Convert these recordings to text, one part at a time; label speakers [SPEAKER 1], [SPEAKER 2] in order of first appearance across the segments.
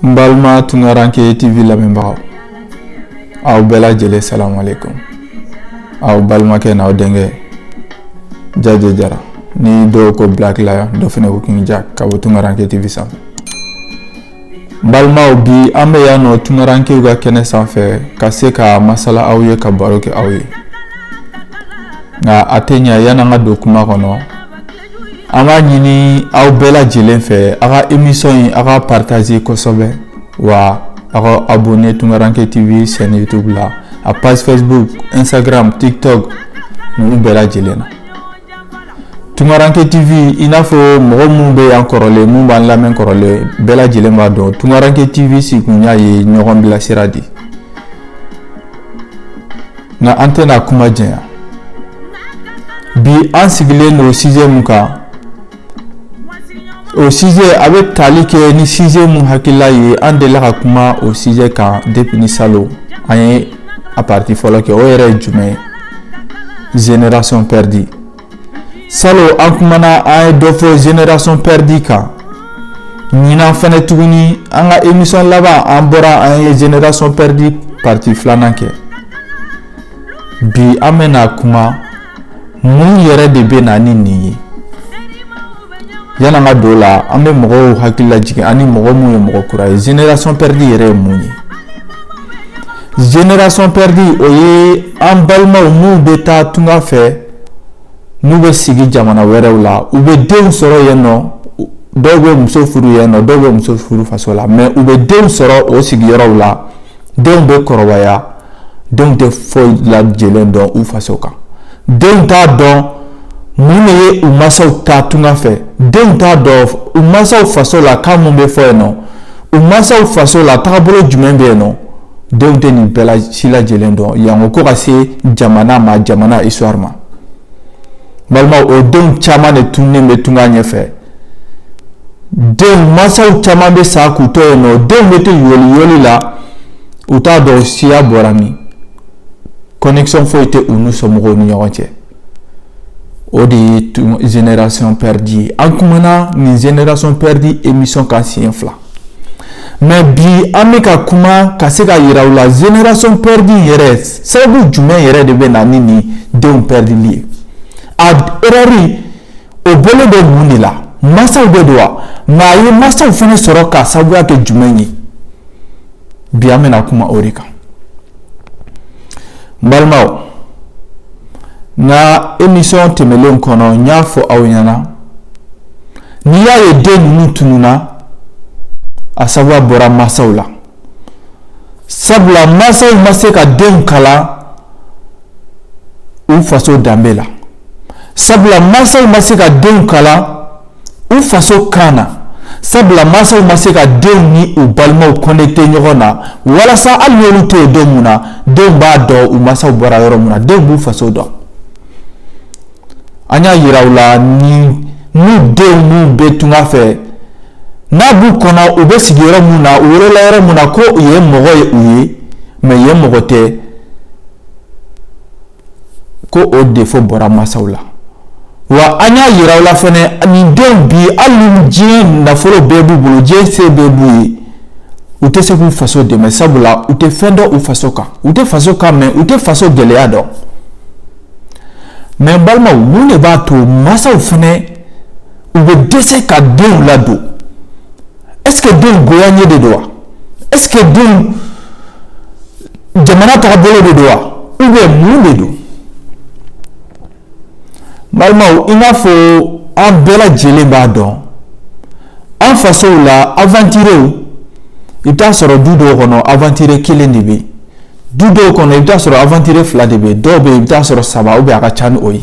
[SPEAKER 1] N balima Tungaranke TV lamɛnbagaw aw bɛɛ lajɛlen salamu aleyikomu aw balimakɛ n'aw denkɛ Jaje Jara ni dɔw ko Black Lion dɔ fana ko King Jack ka bɔ Tungaranke TV sanfɛ n balimaw bi an bɛ yan nɔ Tungarankew ka kɛnɛ sanfɛ ka se ka masala aw ye ka baro kɛ aw ye nka a tɛ ɲɛ yan'an ka don kuma kɔnɔ An b'a ɲini aw bɛɛ lajɛlen fɛ aw ka émission in aw ka partager kosɛbɛ wa aw ka abonner Tungaranke TV chaîne YouTube la a page Facebook Instagram TikTok ninnu bɛɛ lajɛlen na Tungaranke TV i n'a fɔ mɔgɔ minnu bɛ yan kɔrɔlen minnu b'an lamɛn kɔrɔlen bɛɛ lajɛlen b'a dɔn Tungaranke TV sigikunya ye ɲɔgɔn bilasira de nka an tɛna kuma janya bi an sigilen don sujet mun kan o sujet a bɛ tali kɛ ni sujet mun hakilila ye an delila ka kuma o sujet kan depuis ni salon an ye a partie fɔlɔ kɛ o yɛrɛ ye jumɛn ye génération perdue Salon an kumana an ye dɔ fɔ génération perdue kan ɲinan fana tuguni an ka émission laban an bɔra an ye génération perdue partie filanan kɛ bi an bɛna kuma mun yɛrɛ de bɛ na ni nin ye yan'an ka don o la an bɛ mɔgɔw hakili lajigin ani mɔgɔ mun ye mɔgɔ kura ye génération perdue yɛrɛ ye mun ye génération perdue o ye an balimaw mun bɛ taa tunga fɛ n'u bɛ sigi jamana wɛrɛw la u bɛ denw sɔrɔ yen nɔ dɔw bɛ muso furu yen nɔ dɔw bɛ muso furu faso la mais u bɛ denw sɔrɔ o sigiyɔrɔw la denw bɛ kɔrɔbaya denw tɛ foyi lajɛlen dɔn u faso kan denw t'a dɔn mun de ye u mansaw ta tunga fɛ denw t'a dɔn u mansaw faso la kan mun bɛ fɔ yen nɔ u mansaw faso la taabolo jumɛn bɛ yen nɔ denw tɛ nin bɛɛ si lajɛlen dɔn yango ko ka se jamana ma jamana histoire ma balimaw o denw caman de tununnen bɛ tunga ɲɛfɛ denw mansaw caman bɛ sa k'u to yen nɔ denw bɛ to yoli yoli la u t'a dɔn siya bɔra min connexion foyi tɛ u n'u somɔgɔw ni ɲɔgɔn cɛ o de ye génération perdue an kumana nin génération perdue émission kan siɲɛ fila mais bi an bɛ ka kuma ka se ka yira aw la génération perdue yɛrɛ sababu jumɛn yɛrɛ de bɛ na ni nin denw perduli ye a erreur o bɔlen don mun de la mansaw de don wa nka a ye mansaw fana sɔrɔ ka sababuya kɛ jumɛn ye bi an bɛna kuma o de kan n balimaw n ka emisɔn tɛmɛnlen kɔnɔ n y'a fɔ aw ɲɛna n'i y'a ye den ninnu tununna a sababuya bɔra mansaw la sabula mansaw ma se ka denw kalan u faso danbe la sabula mansaw ma se ka denw kalan u faso kan na sabula mansaw ma se ka denw ni u balimaw kɔnɛkite ɲɔgɔn na walasa hali n'olu tɛ yen don mun na denw b'a dɔn u mansaw bɔra yɔrɔ mun na denw b'u faso dɔn an y'a yira u la ni denw minnu bɛ tunga fɛ n'a b'u kɔnɔ u bɛ sigi yɔrɔ mun na u wolola yɔrɔ mun na ko yen mɔgɔ ye u ye mɛ yen mɔgɔ tɛ ko o defo bɔra masaw la wa an y'a yira u la fɛnɛ nin denw bi hali ni diɲɛ nafolo bɛɛ b'u bolo diɲɛ se bɛɛ b'u ye u tɛ se k'u faso dɛmɛ sabula u tɛ fɛn dɔn u faso kan u tɛ faso kan mɛn u tɛ faso gɛlɛya dɔn mɛ balimaw mun de b'a to masaw fɛnɛ u bɛ dɛsɛ ka denw ladon ɛseke denw goyanye de don wa ɛseke denw jamana tagabolo de don wa ou bien mun de don balimaw i n'a fɔ an bɛɛ lajɛlen b'a dɔn an fasow la aventurew i bɛ taa sɔrɔ du dɔw kɔnɔ aventure kelen de bɛ yen du dɔw kɔnɔ i bɛ taa sɔrɔ aventure fila de bɛ yen dɔw bɛ yen i bɛ taa sɔrɔ saba ou bien a ka ca ni o ye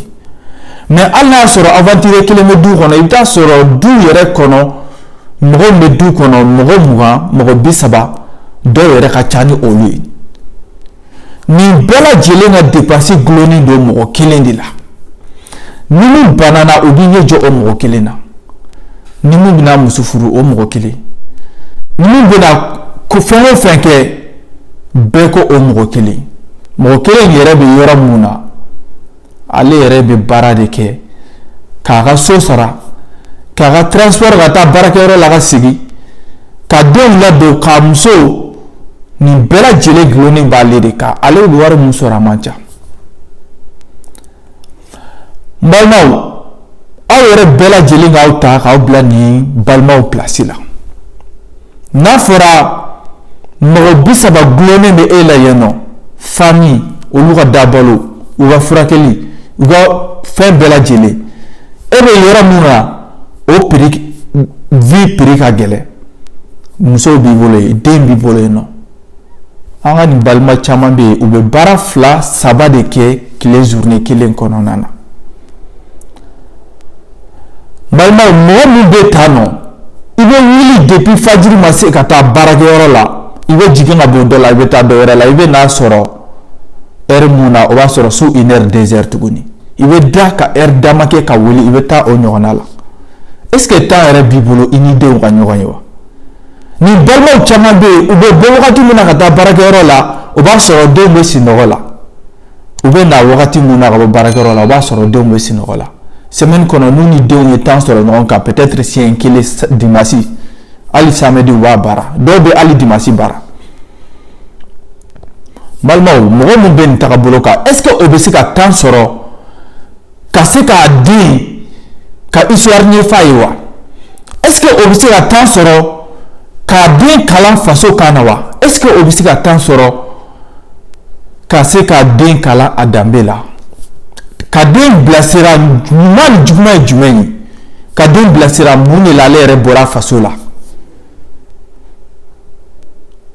[SPEAKER 1] mɛ hali n'a y'a sɔrɔ aventure kelen bɛ du kɔnɔ i bɛ taa sɔrɔ du yɛrɛ kɔnɔ mɔgɔ bɛ du kɔnɔ mɔgɔ mugan mɔgɔ bi saba dɔw yɛrɛ ka ca ni olu ye nin bɛɛ lajɛlen ka depansi gulonnen don mɔgɔ kelen de la ni min banana u b'i ɲɛ jɔ o mɔgɔ kelen na ni min bɛna muso furu o mɔgɔ kelen ni min bɛna ko fɛn o fɛn kɛ bɛɛ ko o mɔgɔ kelen mɔgɔ kelen yɛrɛ bɛ yɔrɔ mun na ale yɛrɛ bɛ baara de kɛ k'a ka so sara k'a ka transport ka taa baarakɛyɔrɔ la ka segin ka denw ladon k'a muso nin bɛɛ lajɛlen gulonnen b'ale de kan ale bɛ wari min sɔrɔ a man ca n balimaw aw yɛrɛ bɛɛ lajɛlen k'aw ta k'aw bila nin balimaw pilasi la n'a fɔra mɔgɔ bi saba gulonnen bɛ e la yen nɔ fami olu ka dabalo u ka furakɛli u ka fɛn bɛɛ lajɛlen e bɛ yɔrɔ min na o piri vi piri ka gɛlɛn musow b'i bolo yen den b'i bolo yen nɔ an ka nin balima caman bɛ yen u bɛ baara fila saba de kɛ tile journée kelen kɔnɔna na balimaw mɔgɔ min bɛ tan nɔ i bɛ wuli depuis fajiri ma se ka taa baarakɛyɔrɔ la i bɛ jigin ka bɔ dɔ la i bɛ taa dɔ wɛrɛ la i bɛ n'a sɔrɔ heure mun na o b'a sɔrɔ su une heure deux heures tuguni i bɛ da ka heure dama kɛ ka wuli i bɛ taa o ɲɔgɔnna la est ce que temps yɛrɛ b'i bolo i ni denw ka ɲɔgɔn ye wa Ni balimaw caman bɛ yen u bɛ bɔ wagati min na ka taa baarakɛyɔrɔ la o b'a sɔrɔ denw bɛ sinɔgɔ la u bɛ na wagati min na ka bɔ baarakɛyɔrɔ la o b'a sɔrɔ denw bɛ sinɔgɔ la semaine kɔnɔ n'u ni denw ye temps sɔrɔ ɲɔgɔn kan peut-être siɲɛ kelen dimanche hali samedi u b'a baara dɔw bɛ hali dimanche baara balimaw mɔgɔ min bɛ nin tagabolo kan est-ce que o bɛ se ka temps sɔrɔ ka se k'a den ka histoire ɲɛf'a ye wa est ce que o bɛ se ka temps sɔrɔ k'a den kalan faso kan na wa est ce que o bɛ se ka temps sɔrɔ ka se k'a den kalan a danbe la ka den bilasira ɲuman ni juguman ye jumɛn ye ka den bilasira mun de la ale yɛrɛ bɔra faso la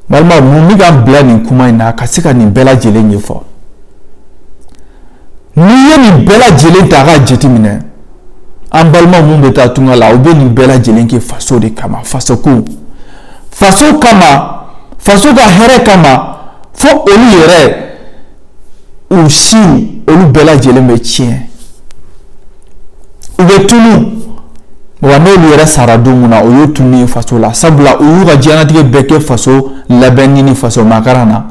[SPEAKER 1] balimaw mun bɛ k'an bila nin kuma in na ka se ka nin bɛɛ lajɛlen ɲɛfɔ n'i ye nin bɛɛ lajɛlen ta k'a jateminɛ an balima min bɛ taa tunga la u bɛ nin bɛɛ lajɛlen kɛ faso de kama faso ko faso kama faso ka hɛrɛ kama fo olu yɛrɛ u siw olu bɛɛ lajɛlen bɛ tiɲɛ u bɛ tunu wa n'olu yɛrɛ sara don mun na o y'u tununi faso la sabula u y'u ka diɲɛnatigɛ bɛɛ kɛ faso labɛnni ni faso makaran na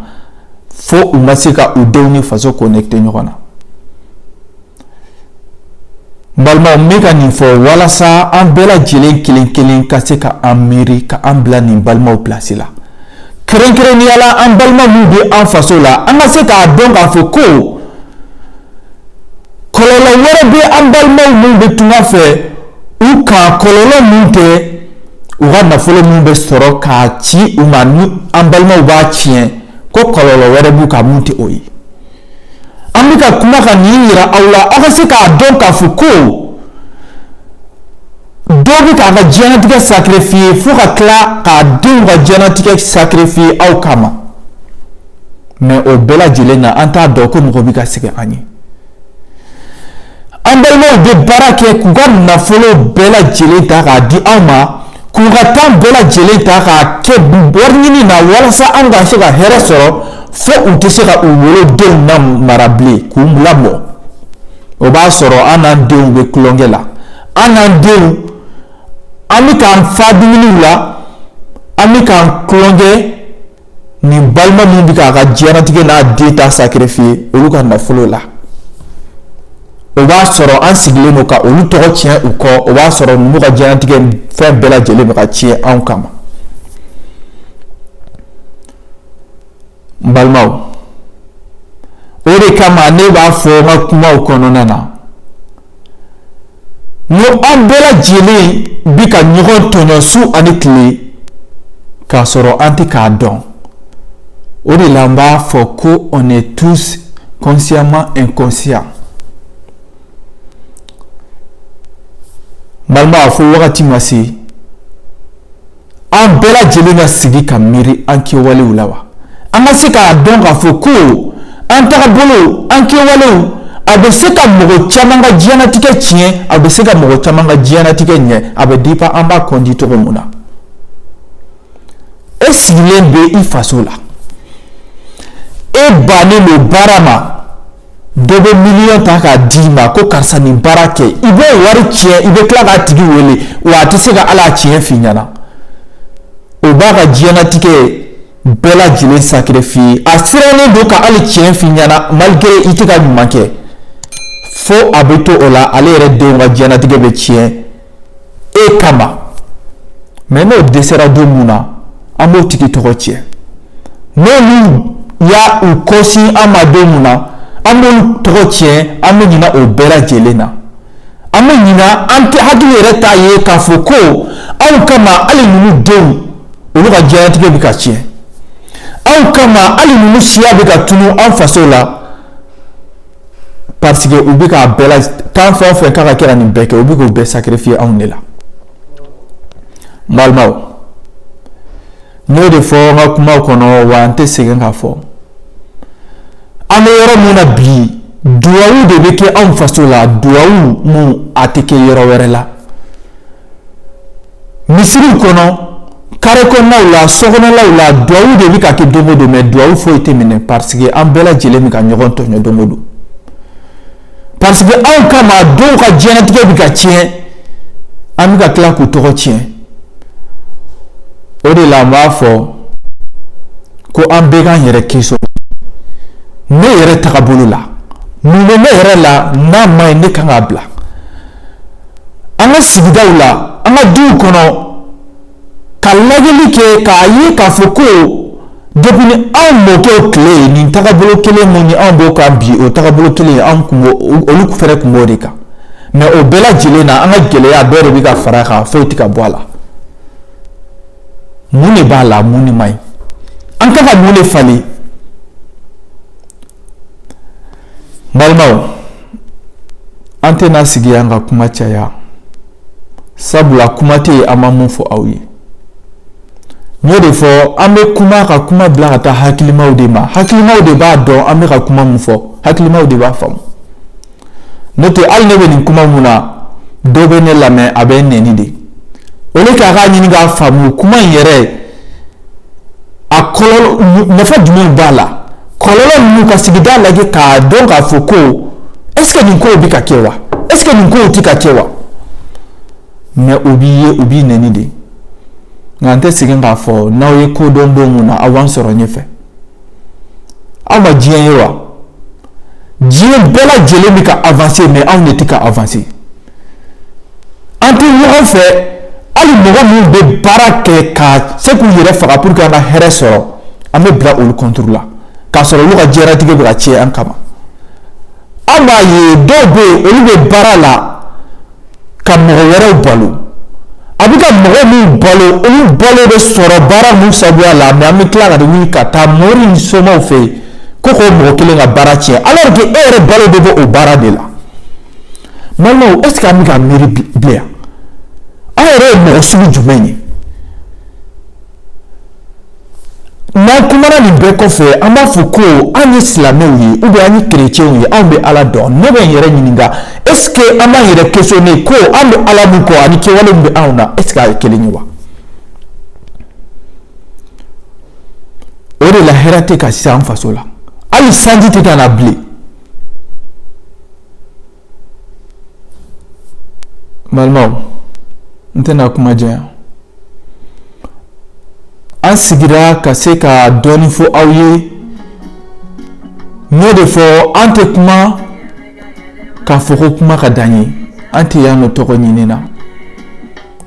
[SPEAKER 1] fo u ma se ka u denw ni faso connecté ɲɔgɔn na Balimaw n bɛ ka nin fɔ walasa an bɛɛ lajɛlen kelen kelen ka se ka an miiri ka an bila nin balimaw place la kɛrɛnkɛrɛnnenya la an balima min bɛ an faso la an ka se k'a dɔn k'a fɔ ko kɔlɔlɔ wɛrɛ bɛ an balimaw min bɛ tunga fɛ u kan kɔlɔlɔ min tɛ u ka nafolo min bɛ sɔrɔ k'a ci u ma ni an balimaw b'a tiɲɛ ko kɔlɔlɔ wɛrɛ b'u kan min tɛ o ye an bɛ ka kuma ka nin yira aw la aw ka se k'a dɔn k'a fɔ ko dɔ bɛ k'a ka diɲɛnatigɛ sacrifier fo ka tila k'a denw ka diɲɛnatigɛ sacrifier aw kama mais o bɛɛ lajɛlen na an t'a dɔn ko mɔgɔ bɛ ka sɛgɛn an ye an balimaw bɛ baara kɛ k'u ka nafolo bɛɛ lajɛlen ta k'a di aw ma K'u ka temps bɛɛ lajɛlen ta k'a kɛ wari ɲini na walasa an ka se ka hɛrɛ sɔrɔ fo u tɛ se ka u wolodenw lamara bilen k'u lamɔ o b'a sɔrɔ an n'an denw bɛ tulonkɛ la an n'an denw an bɛ k'an fa dumuniw la an bɛ ka tulonkɛ ni balima min bɛ k'a ka diɲɛnatigɛ n'a den ta sacrifier olu ka nafolo la o b'a sɔrɔ an sigilen don ka olu tɔgɔ tiɲɛ u kɔ o b'a sɔrɔ ninnu ka diɲɛnatigɛ fɛn bɛɛ lajɛlen bɛ ka tiɲɛ anw kama n balimaw o de kama ne b'a fɔ n ka kumaw kɔnɔna na Mɛ an bɛɛ lajɛlen bi ka ɲɔgɔn tɔɲɔ su ani tile k' sɔrɔ an tɛ k'a dɔn o de la b'a fɔ ko tusiman kɔsiya fo wagati ma se an bɛɛ lajɛlen ka sigi ka miiri an kɛwalew la wa an ka se k'a dɔn k'a fɔ ko an tagabolo an kɛwalew a bɛ se ka mɔgɔ caman ka diɲɛnatigɛ tiɲɛ a bɛ se ka mɔgɔ caman ka diɲɛnatigɛ ɲɛ a bɛ dépend an b'a conduire cogo mun na e sigilen bɛ i faso la e bannen don baara ma dɔ bɛ miliyɔn ta k'a d'i ma ko karisa nin baara kɛ i b'o wari tiɲɛ i bɛ tila k'a tigi wele wa a tɛ se ka ala tiɲɛ f'i ɲɛna o b'a ka diɲɛnatigɛ bɛɛ lajɛlen sacrifier a sirannen don ka hali tiɲɛ f'i ɲɛna malgré i tɛ ka ɲuman kɛ fo a bɛ to o la ale yɛrɛ denw ka diɲɛnatigɛ bɛ tiɲɛ e kama mais n'o dɛsɛra don mun na an b'o tigi tɔgɔ tiɲɛ n'olu y'a u kɔsin an ma don mun na an b'olu tɔgɔ tiɲɛ an bɛ ɲina o bɛɛ lajɛlen na an bɛ ɲina an tɛ hakili yɛrɛ t'a ye k'a fɔ ko anw kama hali ninnu denw olu ka diɲɛlatigɛ bɛ ka tiɲɛ anw kama hali ninnu siya bɛ ka tunu an faso la parce que u bɛ k'a bɛɛ la kan fɛn o fɛn kan ka kɛ ka nin bɛɛ kɛ u bɛ k'o bɛɛ sacrifier anw de la n balimaw n y'o de fɔ n ka kumaw kɔnɔ wa n tɛ sɛgɛn k'a fɔ an bɛ yɔrɔ min na bi duwawu de bɛ kɛ anw faso la duwawu mun a tɛ kɛ yɔrɔ wɛrɛ la. misiriw kɔnɔ kare kɔnɔnaw la sokɔnɔlaw la duwawu de bɛ ka kɛ don o don mais duwawu foyi tɛ minɛ parce que an bɛɛ lajɛlen bɛ ka ɲɔgɔn tɔɲɔ don o don parce que anw kama dɔw ka diɲɛnatigɛ bɛ ka tiɲɛ an bɛ ka tila k'u tɔgɔ tiɲɛ o de la n b'a fɔ ko an bɛɛ k'an yɛrɛ question ne yɛrɛ tagabolo la mun bɛ ne yɛrɛ la n'a man ɲi ne kan k'a bila An ka sigidaw la an ka duw kɔnɔ ka lajɛli kɛ k'a ye k'a fɔ ko depuis ni anw mɔkɛw tile ye nin tagabolo kelen min anw b'o kan bi o tagabolo kelen anw kun b'o o- olu fɛnɛ kun b'o de kan mais o bɛɛ lajɛlen na an ka gɛlɛya dɔ de bɛ ka fara a kan foyi tɛ ka bɔ a la mun de b'a la mun de man ɲi an kan ka mun de falen balimaw an tɛna sigi an ka kuma caya sabula kuma tɛ yen an ma mun fɔ aw ye n y'o de fɔ an bɛ kuma ka kuma bila ka taa hakilimaw de ma hakilimaw de b'a dɔn an bɛ ka kuma min fɔ hakilimaw de b'a faamu n'o tɛ hali ne bɛ nin kuma mun na dɔ bɛ ne lamɛn a bɛ n nɛni de o de k'a k'a ɲini k'a faamu kuma in yɛrɛ a kɔlɔlɔ nafa jumɛn b'a la kɔlɔlɔ ninnu ka sigida lajɛ k'a dɔn k'a fɔ ko est-ce que nin kow bɛ ka kɛ wa est-ce que nin kow tɛ ka kɛ wa mais o b'i ye o b'i nɛni de nka n tɛ segin k'a fɔ n'aw ye ko dɔn don mun na aw b'an sɔrɔ ɲɛfɛ aw ma diɲɛ ye wa diɲɛ bɛɛ lajɛlen bɛ ka avancer mais anw de tɛ ka avancer An tɛ ɲɔgɔn fɛ hali mɔgɔ minnu bɛ baara kɛ ka se k'u yɛrɛ faga pour que an ka hɛrɛ sɔrɔ an bɛ bila olu contre la k'a sɔrɔ olu ka diɲɛlatigɛ bɛ ka tiɲɛ an kama an b'a ye dɔw bɛ yen olu bɛ baara la ka mɔgɔ wɛrɛw balo a bɛ ka mɔgɔ min balo olu balo bɛ sɔrɔ baara min sabuya la mais an bɛ tila ka wuli ka taa mori ni somaw fɛ yen ko k'o mɔgɔ kelen ka baara tiɲɛ alors que e yɛrɛ balo bɛ bɔ o baara de la balimaw est ce que an bɛ ka miiri bilen yan an yɛrɛ ye mɔgɔ sugu jumɛn ye n'an kumana nin bɛɛ kɔfɛ an b'a fɔ ko an ye silamɛw ye ou bien an ye kerecɛnw ye anw bɛ ala dɔn ne bɛ n yɛrɛ ɲininka est ce que an b'an yɛrɛ questionner ko an bɛ ala min kɔ ani kɛwale min bɛ anw na est ce que a ye kelen ye wa o de la hɛrɛ tɛ ka se an faso la hali sanji tɛ ka na bilen Balimaw n tɛna kuma janya an sigira ka se ka dɔɔnin fɔ aw ye n y'o de fɔ an tɛ kuma k'a fɔ ko kuma ka d'an ye an tɛ yan nɔ tɔgɔ ɲini na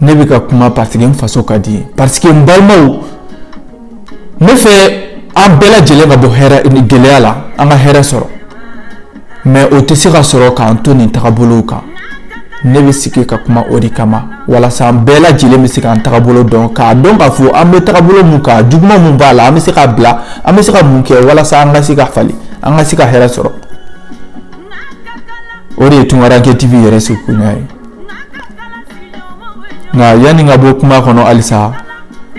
[SPEAKER 1] ne bɛ ka kuma parce que n faso ka di n ye parce que n balimaw Ne fɛ an bɛɛ lajɛlen ka bɔ hɛrɛ nin gɛlɛya la an ka hɛrɛ sɔrɔ mais o tɛ se ka sɔrɔ k'an to nin tagabolow kan ne bɛ sigi ka kuma o de kama walasa an bɛɛ lajɛlen bɛ se k'an tagabolo dɔn k'a dɔn k'a fɔ an bɛ tagabolo min kan juguman min b'a la an bɛ se k'a bila an bɛ se ka mun kɛ walasa an ka se ka falen an ka se ka hɛrɛ sɔrɔ o de ye tunkaranke tv yɛrɛ sigikunya ye nka yanni ka bɔ kuma kɔnɔ halisa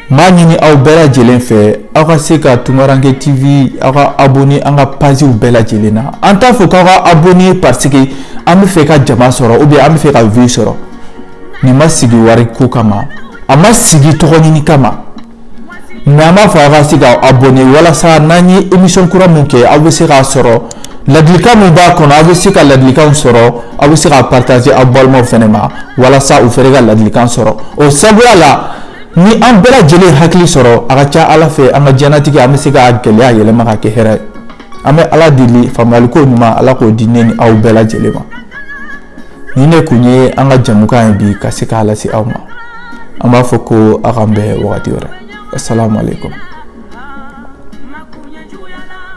[SPEAKER 1] n b'a ɲini aw bɛɛ lajɛlen fɛ aw ka se ka tunkaranke tv aw ka abonné an ka pagew bɛɛ lajɛlen na an t'a fɔ k'aw ka abonné parce que an bɛ fɛ ka jama sɔrɔ ou bien an bɛ fɛ ka vue sɔrɔ nin ma sigi wari ko kama a ma sigi tɔgɔ ɲini kama Nka an b'a fɔ aw ka se ka abonné walasa n'an ye émission kura min kɛ aw bɛ se k'a sɔrɔ ladilikan min b'a kɔnɔ aw bɛ se ka ladilikanw sɔrɔ aw bɛ se k'a partager aw balimaw fɛnɛ ma walasa u fɛnɛ ka ladilikan sɔrɔ o sabuya la ni an bɛɛ lajɛlen ye hakili sɔrɔ a ka ca Ala fɛ an ka diɲɛlatigɛ an bɛ se ka gɛlɛya yɛlɛma ka kɛ hɛrɛ ye an bɛ Ala deli faamuyaliko ɲuman Ala k'o di ne ni aw bɛɛ lajɛlen ma. nin ne kun ye an ka jamukan ye bi ka se k'a lase aw ma an b'a fɔ ko aw k'an bɛn wagati wɛrɛ asalamu aleykum